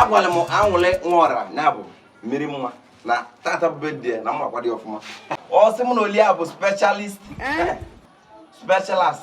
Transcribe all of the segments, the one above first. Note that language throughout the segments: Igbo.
agwara m anwụlị nwora na abụ mmiri mma na tata bụ birthday na mma kwado ọfụma ọ sị m na oli a bụ specialist specialist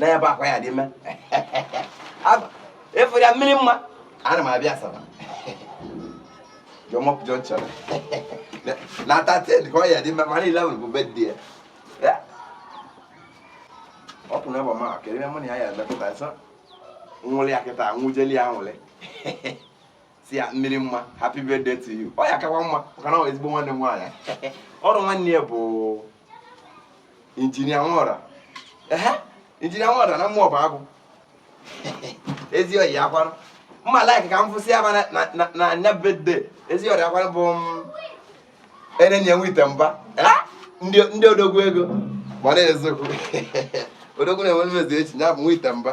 na ya bụ akwa ya dị mma efere ya mmiri mma ana m abịa asaba jọmọp junction na thirteen ka ọ ya dị mma mana eleven bụ birthday ya ọ pụrụ ịgba ma kedu ihe mụ na ya ya emepụta nsọ nwụlịa kịta nwụjeli anwụlị sị ya mmiri mma happy birthday to you ọ ya akakwa mma maka na ezigbo nwanne m nwaanyị ọrụ nwanne ya bụ engineer nwora ehe engineer nwora na mmụọ bụ agụ ezi oyi akwarụ mma like ka m fụsị ya na anya birthday ezi oyi akwarụ bụ mm, enenye nwite mba ndị odogwu ego gbara eziokwu odogwu na-enwe mmezu echi ya bụ nwite mba